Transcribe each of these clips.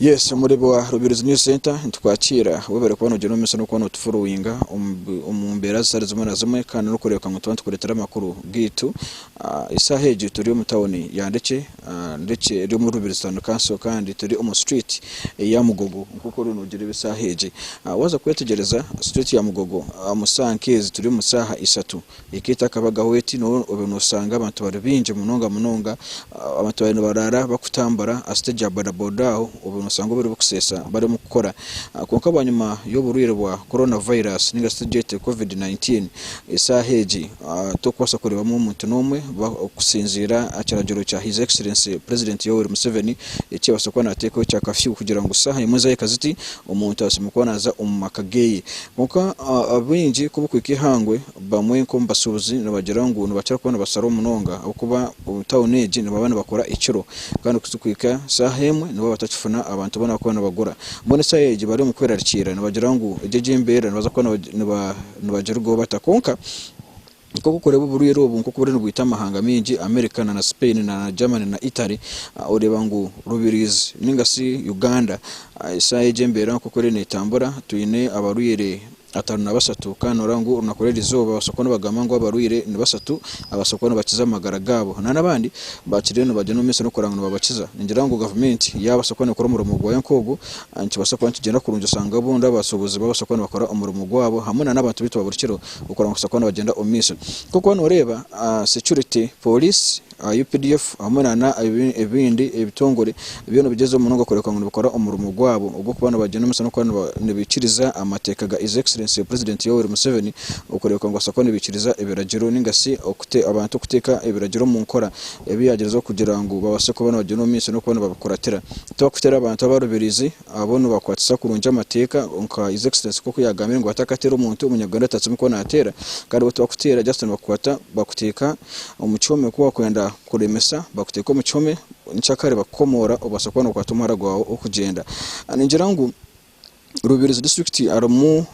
Yes omureebi wa Rubirizi News Centre nitukwakiira webare kuba nogyenda omu maisho n'okuba notufollowinga omu mbeera zitari zimwe na zimwe kandi n'orikureebeka ngu tuba nitukureetera amakuru gaitu. Eshaaha egi turi omu tawuni ya Ndekye, Ndekye eri omuri Rubirizi Town Council kandi turi omu street eya Mugogo nk'oku oriyo noogireeba eshaaha egi. Waaza kwetegyereza street ya Mugogo omu shaaha nk'ezi turi omu shaaha ishatu Ekaitu akabagaho eti, Nooba obe noosanga abantu bari baingi munonga munonga, abantu baabe nibaraara bakutambura aha siteegi ya bodaboda aho, obe noosanga obwire bw'okuseesa barimu kukora. Kwonka bwanyima y'oburwaire bwa Corona Virus nainga shi tugyete Covid nineteen, eshaaha egi torikubaasa kureebamu omuntu n'omwe kusinziira aha kiragiro kya His Excellency President Yoweri Museveni eki yaabaasa kuba naateekaho ekya Kafyu kugira ngu shaaha emwe zaahika ziti omuntu ashemereire kuba naaza omu maka geeye. Kwonka abaingi ku barikuhika eihangwe Bamwe nk'omu bashuubuzi nibagira ngu nibakira kuba nibasharaho munonga ahabw'okuba omu tauni egi nibaba nibakora ekiro kandi kuhitsya kuhika shaaha emwe nibaba batakifuna abantu abu banabakuba nibagura. Mbwenu eshaaha egi bari omu kwerarikiirira nibagira ngu egi egi embeera nibaza kuba nibagirugaho bata. Kwonka nk'oku orikureeba oburwire obu nk'oku buriyo nibwita amahanga maingi America na na Spain na na Germany na Italy oreeba ngu Rubirizi nainga shi Uganda eshaaha egi embeera nk'oku eriyo netambura twine abarwire Ataano na bashatu, kandi nooreeba ngu orunaku rw'eri izooba babaasa kuba nibagamba ngu abarwaire ni bashatu ababaasa kuba nibakiza amagara gaabo nari abandi bakiriyo nibagyenda omu maisho n'okureba ngu nibabakiza. Ningira ngu gavumenti yaabaasa kuba neekora omurimo gwayo nk'ogwo, nikibaasa kuba nikigyenda kurungi oshange obundi abasuubuzi babaasa kuba nibakora omurimo gwaabo hamwe nana abantu baitu ba buri kiro okureba ngu nibabaasa kuba nibagyenda omu maisho. Ahabw'okuba nooreeba security, pooriisi, aha updf hamwe nana ebindi ebitongore byo nibigyezaho munonga kureka ngu nibikora omurimo gwabo ogw'okuba nibagyenda omu maisho n'okuba nibaikiriza amateeka ga His Excellency President Yoweri Museveni okureebeka ngu nibabaasa kuba nibaikiriza ebiragiro ninga shi abantu kuteeka ebiragiro omu nkora ebi yaagyezaho kugira ngu babaase kuba nibagyenda omu maisho n'okuba nibabikuratira. Tibakutera abantu abarubirizi. Abo nibakwatisa kurungi amateeka nka His Excellency nk'oku yaagambire ngu batakatera omuntu, Omunyarwanda ataatsya omukono ateera. Kandi bo tibakuteera just nibakukwata bakuteeka omu kihome ku waakwenda kuremesa bakuteeka omu kihome nkyakare bakukomoora obaasa kuba nookwata omuhara gwawe okugyenda. Ningira ngu Rubirizi disiturikiti harimu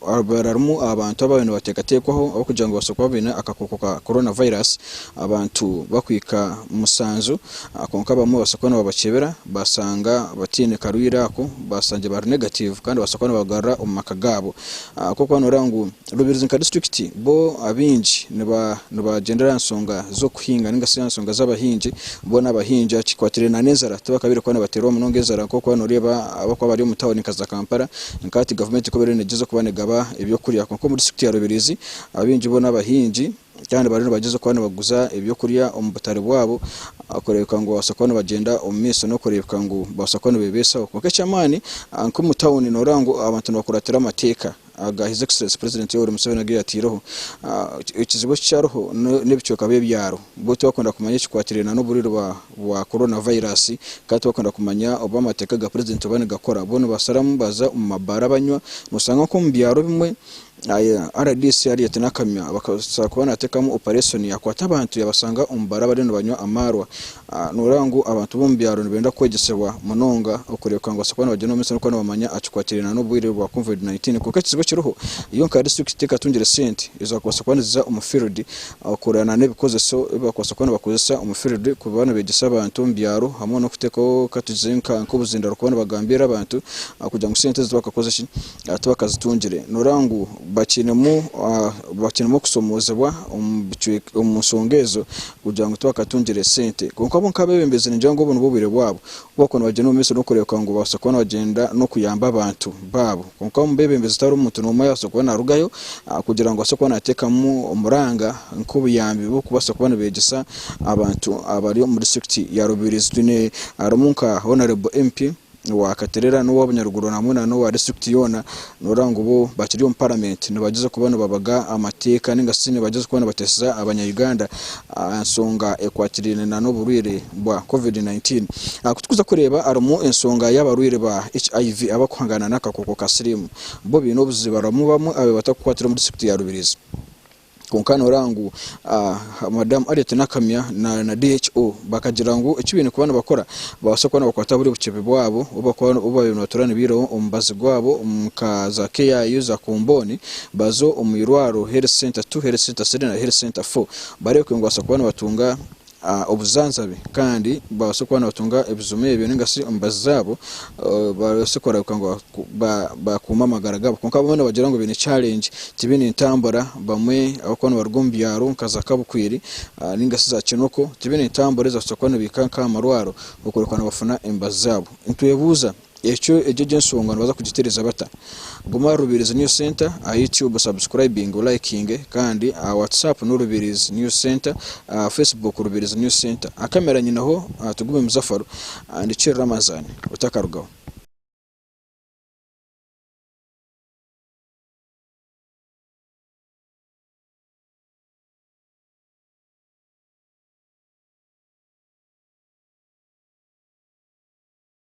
Ababaire harimu abantu abaabaire nibateekateekwaho ahabw'okugira ngu babaase kuba baine akakooko ka Corona Virus, abantu bakuhika musanju kwonka abamwe babaasa kuba nibabakyebera baashanga bataine karwaire ako baashangye bari negative kandi babaasa kuba nibagarura omu maka gaabo. Ahabw'okuba nooreeba ngu Rubirizi nka disiturikiti bo abaingi nibagyendera aha nshonga z'okuhinga nainga shi aha nshonga z'abahingi, bo n'abahingi aha kikwatiraine n'enzara tibakabaire kuba nibateerwa munonga enzara nk'oku waaba nooreeba abarikuba bari omu tauni nka za Kampala Nka hati gavumenti ekaba eriyo neegyeza kuba negaba eby'okurya kwonka omuri disiturikiti ya Rubirizi abaingi bo n'abahingi kandi bariyo nibagyeza kuba nibaguza eby'okurya omu butare bwabo kureebeka ngu babaasa kuba nibagyenda omu maisho n'okureebeka ngu babaasa kuba nibebesaho kwonka eky'amaani nk'omu tawuni nooreeba ngu abantu nibakuratira amateeka aga His Excellency President Yoweri Museveni agu yataireho. Ekizibu eki kyariho n'ebicweka by'ebyaro. Bw'otu wakwenda kumanya ekikwatirine n'oburwire bwa Corona virus, kandi tiwakwenda kumanya obu amateeka ga Purezidenti oba nigakora, bo nibasharamu baza omu mabaara banywa. Noshanga nk'omu byaro bimwe, rdc ariyo ati n'akamya akabaasa kuba nateekamu opareshoni yakwata abantu yabashanga omu baara bariyo nibanywa amaarwa. Noreeba ngu abantu b'omu byaro nibenda kwegyesibwa munonga okureebeka ngu nibabaasa kuba nibagyenda omu maisho n'okuba nibamanya ekikwatirine n'oburwire bwa Covid nineteen. Kwonka ekizibu ekiriho, yo nka disiturikiti tekatungire sente ezakubaasa kuba niziza omu field Abakureeba na n'ebikozeso ebi baakubaasa kuba nibakozesa omu field ku baaba nibeegyesa abantu omu byaro hamwe n'okuteekaho katugire nka nk'obuzindo barikuba nibagambiira abantu kugira ngu sente ezi tibakakoze ki tibakazitungire nooreeba ngu bakiinemu bakiinemu okusomoozebwa omu bicweka omu nshonga ezo kugira ngu tibakatungire sente. Kwonka bo nk'abeebembezi ningira ngu obu nibwo bwire bwabo Ku waakuba noogyenda omu maisho n'okureebeka ngu obaasa kuba noogyenda n'okuyamba abantu baabo. Kwonka omu beebembezi tiharimu muntu n'omwe ayabaasa kuba naarugayo kugira ngu abaase kuba naateekamu omuranga nk'obuyambi bw'okubaasa kuba nibeegyesa abantu abari omu disiturikiti ya Rubirizi. Twine harimu nka Honarebo MP wa Katerera n'owa Bunyaruguru hamwe n'owa disiturikiti yoona Noorora ngu bo bakiri omu Paramenti nibagyeza kuba nibabaga amateeka nainga shi nibagyeza kuba nibateeseza Abanya-Uganda aha nshonga ekwatiraine n'oburwaire bwa Covid nineteen. Aha ku turikuza kureeba harimu enshonga y'abarwaire ba HIV abarikuhangana n'akakooko ka siriimu. Bo baine obuziba harimu bamwe abu batarikukwatira omu disiturikiti ya Rubirizi. Kwonka nooreeba ngu Madamu Harriet Nakamya na DHO bakagira ngu eki baine kuba nibakora babaase kuba nibakwata buri buceepe bwabo obu baabaire nibatuura nibaihaho omu mubazi gwabo nka za KIU, za Kombooni baze omu irwariro Health Centre two, Health Centre three na Health Centre four bareebeke ngu babaasa kuba nibatunga obujanjabi kandi babaase kuba nibatunga ebijuma ebyo ninga shi emibazi zaabo babaase kureebeka ngu baakuuma amagara gaabo. Kwonka abamwe nibagira ngu baine challenge tibaine entambura bamwe ahabw'okuba nibaruga omu byaro nka za Kabukwiiri ninga shi za Kinoko tibaine ntambura ezi baakubaasa kuba nibaihika nk'aha marwaro okureebeka ngu nibafuna emibazi zaabo. Nitwebuuza Ekyo egyo egyo ensonga nibaza kugitereza bata? Guma aha Rubirizi News Centre aha YouTube subscribinge olayikinge kandi aha WhatsApp no Rubirizi News Centre aha Facebook Rubirizi News Centre aha kamera nyineho Tugume Muzafaro and Cheri Ramazan otakarugaho.